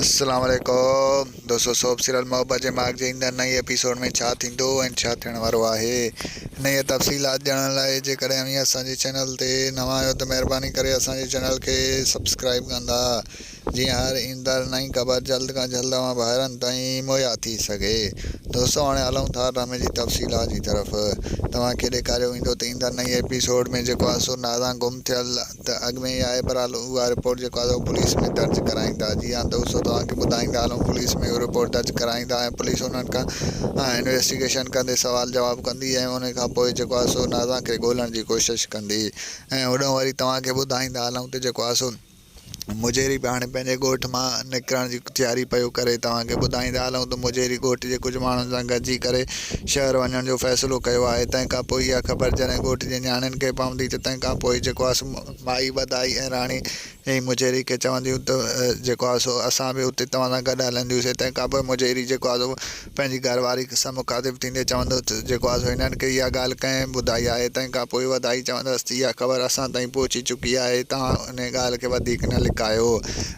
السلام عليڪم دوستو سوپ سيريل محبت جي ماڳ جي ايندڙ نئين ايپيسوڊ ۾ ڇا ٿيندو ۽ ڇا ٿيڻ وارو آهي انهيء تفصيلات ڄاڻڻ لاء جيڪڏهن اوهين اسان جي چينل تي نوان آهيو ته مهرباني ڪري اسان جي چينل کي سبسڪرائيب ڪندا جيئن هر ايندڙ نئين خبر جلد کان جلد اوهان ڀائرن تائين مهيا ٿي سگهي دوستو هاڻي هلون ٿا ڊرامي جي تفصيلات جي طرف توهان کي ڏيکاريو ويندو ته ايندڙ نئين ايپيسوڊ ۾ جيڪو عنصر ناران گم ٿيل ته اڳ ۾ ئي آهي برحال اها رپورٽ جيڪو آهي سو پوليس ۾ درج ڪرائيندا جي هان ته اسو توهان کي ٻڌائيندا هلون پوليس ۾ اهو رپورٽ درج ڪرائيندا ۽ پوليس انهن کان انويسٽيگيشن ڪندي سوال جواب ڪندي ۽ انهي کان پوء جيڪو آهي سو نازان کي ڳولڻ جي ڪوشش ڪندي ۽ هوڏهون وري توهان کي ٻڌائيندا هلون ته جيڪو آهي سو مجيري به هاڻي پنهنجي ڳوٺ مان نڪرڻ جي تياري پيو ڪري توهان کي ٻڌائيندا هلون ته مجيري ڳوٺ جي ڪجهه ماڻهن سان گڏجي ڪري شهر وڃڻ جو فيصلو ڪيو آهي. تنهن کان پوء اها خبر جڏهن ڳوٺ جي نياڻين کي پوندي ته تنهن کان پوء جيڪو آهي سو مائي ٻڌائي ۽ راڻي ۽ مجيري کي چونديون ته جيڪو آهي سو اسان به اتي توهان سان گڏ هلنديون سي. تنهن کان پوء مجيري جيڪو آهي سو پنهنجي گهر واري سان مخاطب ٿيندي چوندو ته جيڪو آهي سو هنن کي اها ڳالهه ڪنهن ٻڌائي آهي. تنهن کان پوء وڌائي چوندس ته اها خبر اسان تائين پهچي چڪي آهي توهان انهي ڳالهه کي وڌيڪ نه لڪايو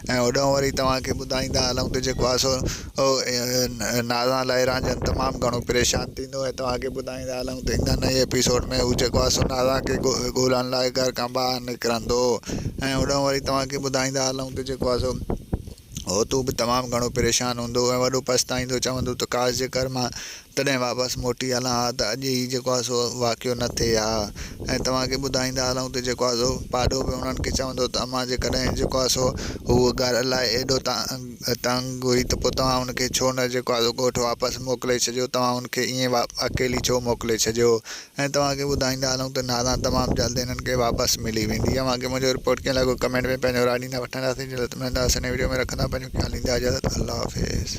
۽ هوڏهون وري توهان کي ٻڌائيندا هلون ته جيڪو آهي سو ناران لاهي رانجهن تمام گهڻو پريشان ٿيندو ۽ توهان کي ٻڌائيندا هلون ته ايندڙ نئين ايپيسوڊ ۾ هو جيڪو آسو ناران کي ڳولڻ لاء گهر کان ٻاهر نڪرندو ۽ هوڏانهن وري توهان کي ٻڌائيندا هلون ته جيڪو آسو هوتو به تمام گهڻو پريشان هوندو ۽ وڏو پڇتائيندو چوندو ته ڪاش جيڪر مان تڏهن واپس موٽي هلان ها ته اڄ هي جيڪو آهي سو واقعو نه ٿئي ها ۽ توهان کي ٻڌائيندا هلون ته جيڪو آهي سو پاڏو به انهن کي چوندو ته امان جيڪڏهن جيڪو آهي سو هو گهر الاء ايڏو تنگ هئي ته پوء توهان هن کي ڇو نه جيڪو آهي سو ڳوٺ واپس موڪلي ڇڏيو توهان هن کي ائين اڪيلي ڇو موڪلي ڇڏيو ۽ توهان کي ٻڌائيندا هلون ته ناران تمام جلد هنن کي واپس ملي ويندي اوهان کي منهنجو رپورٽ ڪيئن لڳو ڪمينٽ ۾ پنهنجو راء ڏيندا وٺنداسين جلد ملنداسين نئين وڊيو ۾ رکندا پنهنجو خيال ڏيندا اجازت الله حافظ.